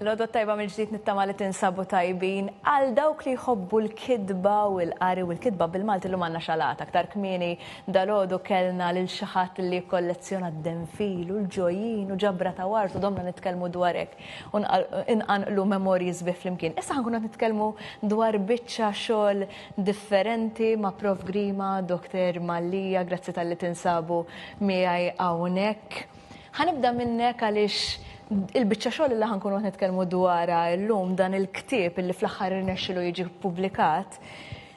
L-għodwa tajba mill-ġdid nittama li tinsabu tajbin. Għal dawk li jħobbu l-kitba u l-qari u l-kitba bil-Malti llum għandna xalata. Aktar kmieni dalgħodu kellna lil xi ħadd li jikkollezzjona d-denfil u l-ġojin u ġabra ta' wart u domna nitkellmu dwar hekk u nqanqlu memorji sbieħ flimkien. Issa ħa nkunu qed nitkellmu dwar biċċa xogħol differenti ma' Prof. Grima, Doktor Mallia, grazzi talli tinsabu miegħi hawnhekk. Ħanibda minnek għaliex il-biċċa xogħol li ħankunu qed nitkellmu dwarha llum dan il-ktieb li fl-aħħar irnexxilu jiġi ppubblikat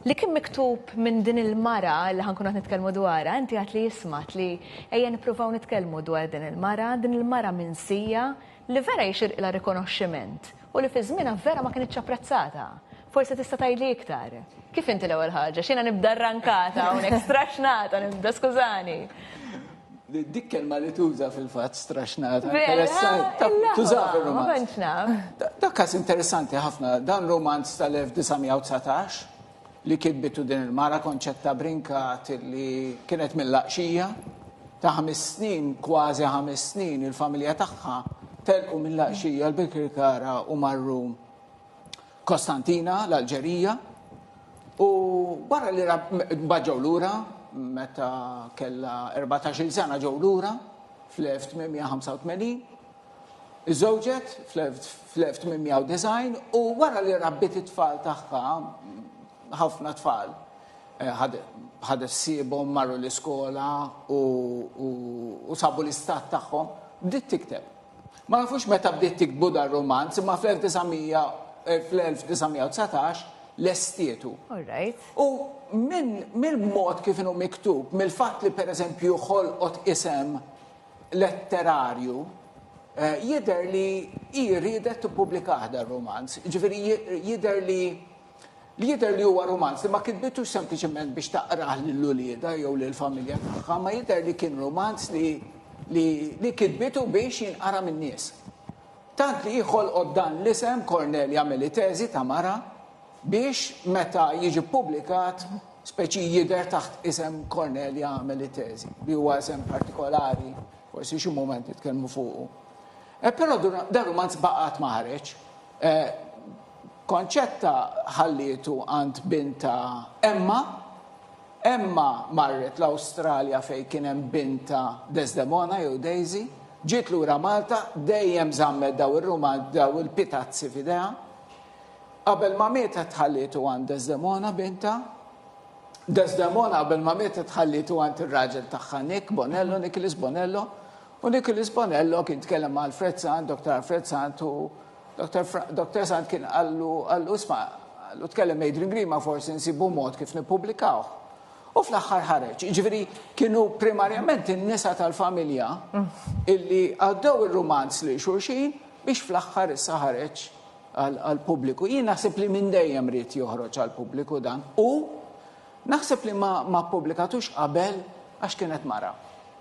li kien miktub minn din il-mara li ħankun qed nitkellmu dwarha, inti għad li jismat li ejja nippruvaw nitkellmu dwar din il-mara, din il-mara minsija li vera jixirqilha rikonoxximent u li fi żmienha vera ma kinitx apprezzata. Forsi tista' tgħidli iktar. Kif inti l-ewwel ħaġa? X'jiena nibda rrankata hawnhekk, straxnata nibda, skużani. Dik kelma li tuża fil-fatt straxnata. Interessanti. Tuża fir-romanz. Dak każ interessanti ħafna. Dan romanz tal-1919 li kitbitu din il-mara Konċetta Brincat li kienet mill-Laqxija ta' ħames snin, kważi ħames snin, il-familja tagħha telqu mill-Laqxija l-Birkirkara u marru Kostantina, l-Alġerija, u barra li mbagħad ġew lura meta kellha 14-il sena ġew lura fl-1885 Iżżewġet fl-1890 u wara li rabbit it-tfal tagħha ħafna tfal eh, ħadet sibhom marru l-iskola u sabu l-istat tagħhom bdiet tikteb. Ma nafux meta bdiet tiktbu dan rumanz, imma fl-1919 lestietu. U mill-mod kif inhu miktub, mill-fatt li pereżempju ħolqot isem letterarju, eh, jidher li hi riedet tippubblikah dan rumanz. Ġifieri jidher li li jidher li huwa rumanz li ma kitbitu sempliċement biex taqrah lil ulieda jew lil familja tagħha, ma jidher li kien rumanz li li, li kitbitu biex jinqara minn nies. Tant li jħolqod dan l-isem Cornelia Melitezi ta' mara biex meta jiġi publikat speċi jidher taħt isem Cornelia Melitezi, li huwa isem partikolari, forsi xi moment jitkellmu fuqu. E, però dan rumanz baqgħet ma ħareġ. E, Concetta ħallietu għand bintha Emma. Emma marret l-Awstralja fejn kien hemm bintha Desdemona jew Daisy. Ġiet lura Malta, dejjem żammet daw ir-rumanzi, daw il-pitazzi f'idejha. Qabel ma mietet ħallietu għand Desdemona bintha. Desdemona qabel ma mietet ħallietu għand ir-raġel tagħha Nick Bonello, Nicholas Bonello. U Nicholas Bonello kien tkellem ma' Alfred Sant, Dr. Alfred Sant u Dottor Sant kien qallu, qallu, isma, qallu tkellem Adrian Grima forsi nsibu mod kif nippubblikawh. U fl-aħħar ħareġ. Ġifieri kienu primarjament in-nisa tal-familja illi għaddew ir-rumanz lil xulxin biex fl-aħħar issa ħareġ għall-pubbliku. Jien naħseb li minn dejjem ried joħroġ għall-pubbliku dan. U Naħseb li ma ma ppubblikatux qabel għax kienet mara.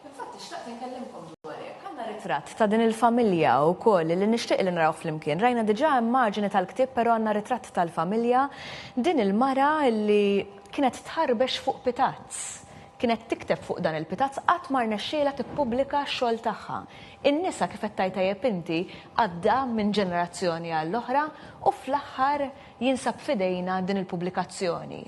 Infatti xtaqt inkellimkom dwar hekk. Għandna ritratt ta' din il-familja wkoll li nixtieq li narawh flimkien. Rajna diġà immaġini tal-ktieb però għandna ritratt tal-familja. Din il-mara li kienet tħarbex fuq pitazz. Kienet tikteb fuq dan il-pitazz qatt ma rnexxielha tippubblika x-xogħol tagħha. In-nisa kif qed tgħid tajjeb inti għadda minn ġenerazzjoni għall-oħra u fl-aħħar jinsab f'idejna din il-pubblikazzjoni.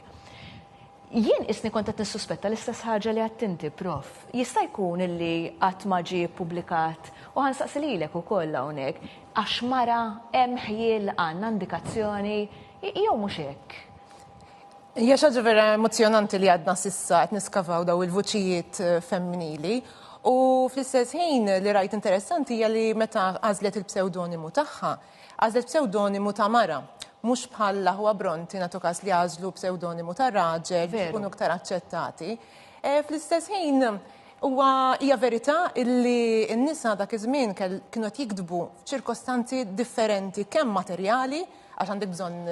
Jien qisni kont qed nissuspetta l-istess ħaġa li għidt inti, Prof. Jista' jkun illi qatt ma ġie ppubblikat, u ħa nsaqsi lilek ukoll hawnhekk, għax mara, hemm ħjiel, għandna indikazzjoni, jew mhux hekk? Hija xi ħaġa vera emozzjonanti li għadna s'issa qed niskavaw dawn il-vuċijiet femminili u fl-istess ħin li rajt interessanti hija li meta għażlet il-psewdonimu tagħha, Għażlet psewdonimu ta' mara, mhux bħal l-aħwa Brontë nagħtu każ li għażlu psewdonimu ta' raġel biex ikunu iktar aċċettati. Fl-istess ħin, huwa hija verità illi n-nisa dak iż-żmien kienu qed jiktbu f'ċirkostanzi differenti kemm materjali, għax għandek bżonn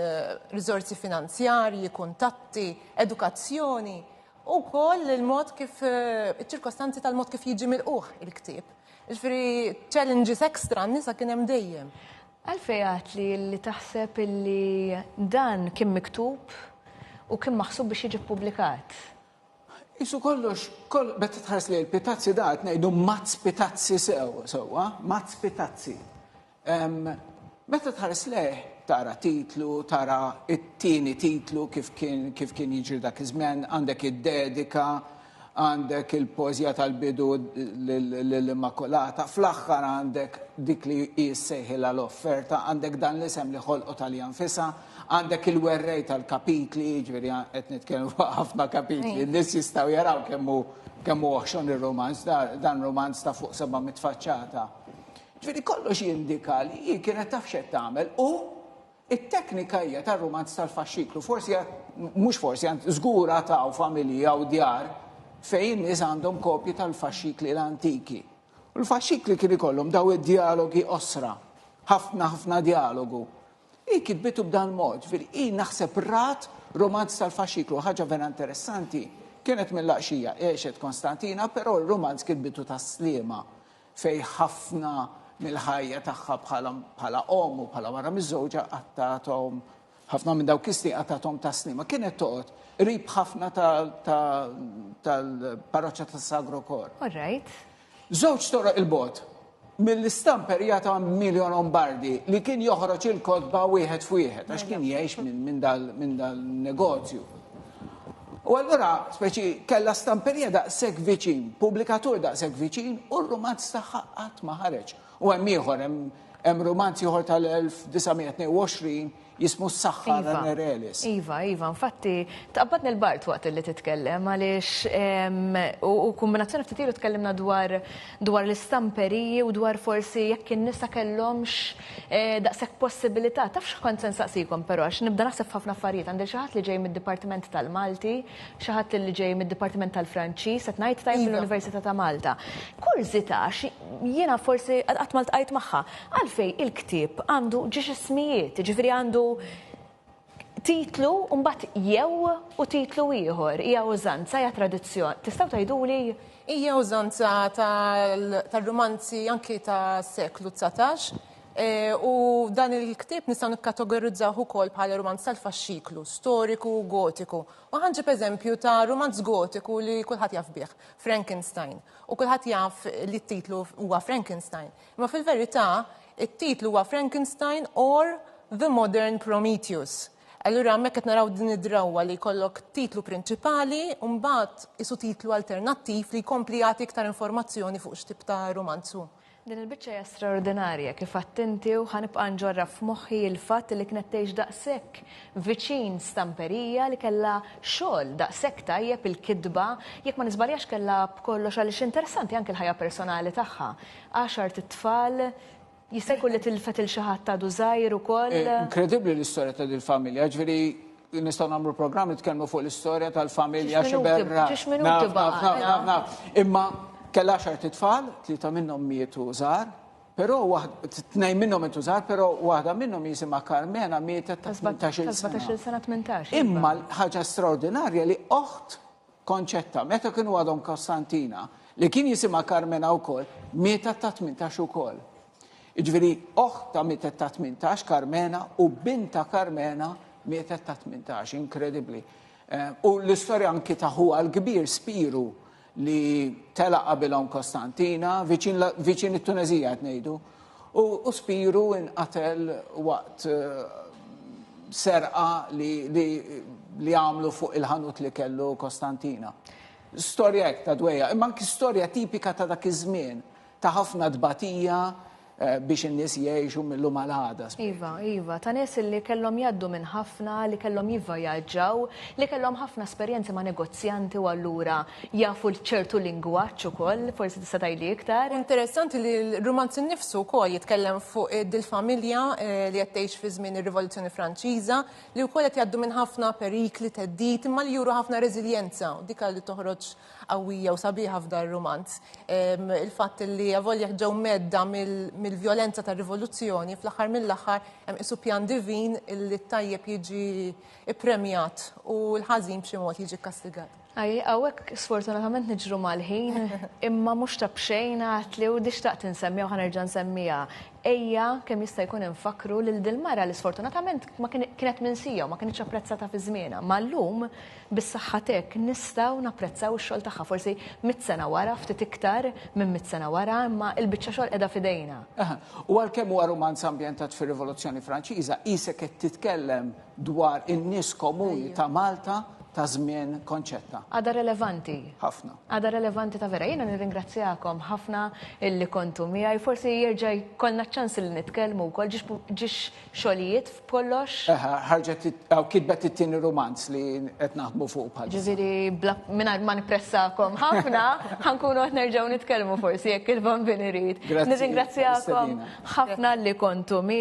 riżorsi finanzjarji, kuntatti, edukazzjoni, u wkoll il-mod kif iċ-ċirkostanzi tal-mod kif jiġi milqugħ il-ktieb. Ġifieri challenges extra n-nisa kien hemm dejjem. Għalfejn għedt li li taħseb illi dan kien miktub u kien maħsub biex jiġi ppubblikat? Qisu kollox, meta tħares lejn il-pitazzi da qed ngħidu mazz pitazzi sew, sewwa, mazz pitazzi. Meta tħares lejh, tara titlu, tara t-tieni titlu kif kien kif kien jiġri dak iż-żmien, għandek id-dedika, għandek il-poeżija tal-bidu lill-Immakulata, fl-aħħar għandek dik li hi ssejħilha l-offerta, għandek dan l-isem li ħolqot għaliha nfisha, għandek il-werrej tal-kapitli, jiġifieri qed nitkellmu fuq ħafna kapitli, n-nies jistgħu jaraw kemm hu kemm hu oħxon ir-rumanz, dan rumanz ta' fuq 700 faċċata. Ġifieri kollox jindika li hi kienet taf x'qed tagħmel u t-teknika hija tar-rumanz tal-faxxiklu. Forsi għad, mhux forsi, anzi żgur għad hawn familji hawn djar fejn in-nies għandhom kopji tal-faxxikli l-antiki. U l-faxxikli kien ikollhom dawn id-djalogi qosra, ħafna ħafna djalogu. Hi kitbitu b'dal-mod, ġifieri hi naħseb rat rumanz tal-faxxiklu. Ħaġa vera interessanti, kienet mill-Laqxija, għexet Konstantina, però r-rumanz kitbitu tas-Sliema. fejn ħafna mill-ħajja tagħha bħala omm u bħala mara miżżewġa qattgħathom ħafna minn dawk is-snin qattgħathom ta' slima. Kienet toqgħod qrib ħafna tal-parroċċa ta' Sagro Kor. Alright. Żewġ toroq il-bot. Mill-istamper jata Miljo Lombardi li kien joħroġ il-kotba wieħed f'wieħed għax kien jgħix minn dal-negozju. U allura, speċi, kellha stamperija daqshekk viċin, pubblikatur daqshekk viċin, u r-rumanz tagħha qatt ma ħareġ. U hemm ieħor, hemm rumanz ieħor tal-1922 jismu s-saħħa iva. Ranerelis. Iva, iva, infatti tqabbad nil-bart waqt li titkellem għaliex u kombinazzjoni ftit ilu tkellimna dwar dwar l-istamperiji u dwar forsi jekk in-nisa kellhomx Daqshekk possibilità, taf x'kont se nsaqsikom però għax nibda naħseb f'ħafna affarijiet, għandi xi ħadd li ġej mid-Dipartiment tal-Malti, xi ħadd li ġej mid-Dipartiment tal-Franċiż, qed ngħid tajjeb mill-Università ta' Malta. Kurżità għax jiena forsi qatt ma ltqajt magħha, għalfejn il-ktieb għandu ġiex ismijiet, jiġifieri għandu titlu u mbagħad jew u titlu ieħor hija użanza hija tradizzjoni. Tistgħu tgħiduli Hija użanza tar-rumanzi anki tas-seklu 19 e, u dan il-ktieb nistgħu nikkategorizzawh ukoll bħala rumanz tal-faxxiklu, storiku, gotiku. U ħanġib eżempju ta' rumanz gotiku li kulħadd jaf bih, Frankenstein. U kulħadd jaf li t-titlu huwa Frankenstein. Imma fil-verità, it-titlu huwa Frankenstein or The Modern Prometheus. Allura hemmhekk qed naraw din id-drawwa li jkollok titlu prinċipali u mbagħad qisu titlu alternattiv li jkompli jagħti iktar informazzjoni fuq x'tip ta' rumanz hu. Din il-biċċa hija straordinarja, kif għedt inti, u ħa nibqa' nġorraf f'moħħi il-fatt li kienet tgħix daqshekk viċin stamperija li kellha xogħol daqshekk tajjeb il-kitba, jekk ma niżbaljax kellha b'kollox għaliex interessanti anke l-ħajja personali tagħha. Għaxart it-tfal, jista' jkun li tilfet il xi ħadd għadu żgħir ukoll. Eh, inkredibbli l-istorja ta' dil-familja, ġifieri nistgħu nagħmlu programm nitkellmu fuq l-istorja tal-familja xi berra. Imma kell għaxar titfal, tlieta minnhom mietu żgħar, però tnejn minnhom mietu żgħar, però waħda minnhom jisimha Carmena mietet ta' 18 sena. 18 sena 18. Imma ħaġa straordinarja li oħt Concetta, meta kienu għadhom Kostantina, li kien jisimha Karmena wkoll, mietet ta' tmintax ukoll. Jiġifieri oħtha mietet ta' tmintax, Karmena, u bintha Karmena mietet ta' tmintax, inkredibbli. U l-istorja anki ta' ħuha l-kbir Spiru li telaq qabilhom Kostantina, viċin viċin it-Tuneżija qed ngħidu, u Spiru nqatel waqt serqa li għamlu fuq il-ħanut li kellu Kostantina. Storja hekk ta' dwejjaq, imma anki storja tipika ta' dak iż-żmien, ta' ħafna tbatija biex in-nies jgħixu mil-lum għal għada. Iva, iva, ta' nies li kellhom jgħaddu minn ħafna, li kellhom jivvjaġġaw, li kellhom ħafna esperjenzi ma' negozjanti u allura Jafu ċertu lingwaġġ ukoll, forsi tista' tgħidli iktar. Interessanti li l-rumanz innifsu wkoll jitkellem fuq dil-familja li qed tgħix fi żmien ir-Rivoluzzjoni Franċiża, li wkoll qed jgħaddu minn ħafna perikli, theddid, imma li juru ħafna reżiljenza u dik li toħroġ qawwija u sabiħa f'dar-rumanz. Il-fatt li avolja ġew mgħedda mill-vjolenza tar-Rivoluzzjoni, fl-aħħar mill-aħħar hemm qisu pjan divin li t-tajjeb jiġi ppremjat u l-ħażin b'xi mod jiġi kkastigat. Ajj, hawnhekk sfortunatament niġru mal-ħin, imma mhux ta' b'xejn għad li u di xtaqt insemmiha u ħa nerġa' nsemmiha. Ejja kemm jista' jkun infakkru lil dil-mara li sfortunatament ma kienet minsija u ma kinitx apprezzata fi żmienha. Ma llum, bis-saħħa t'hekk, nistgħu napprezzaw ix-xogħol tagħha, forsi mitt sena wara, ftit iktar minn mitt sena wara, imma l-biċċa xogħol qiegħda f'idejna. Aha. U għalkemm huwa rumanz ambjentat fir-Rivoluzzjoni Franċiża, qisek qed titkellem dwar in-nies komuni ta' Malta ta' żmien Concetta. Għadha relevanti. Ħafna. Għadha relevanti ta' vera. Jiena nirringrazzjakom ħafna illi kontu miegħi. Forsi jerġa' jkollna ċans li nitkellmu wkoll ġiex xogħlijiet f'kollox. Eħe, ħarġet hawn kitbet it-tieni rumanz li qed naħdmu fuq bħal. Ġifieri mingħajr ma nippressakom ħafna, ħankunu qed nerġgħu nitkellmu forsi jekk il-Bambin irid. Nirringrazzjakom ħafna li kontu miegħi.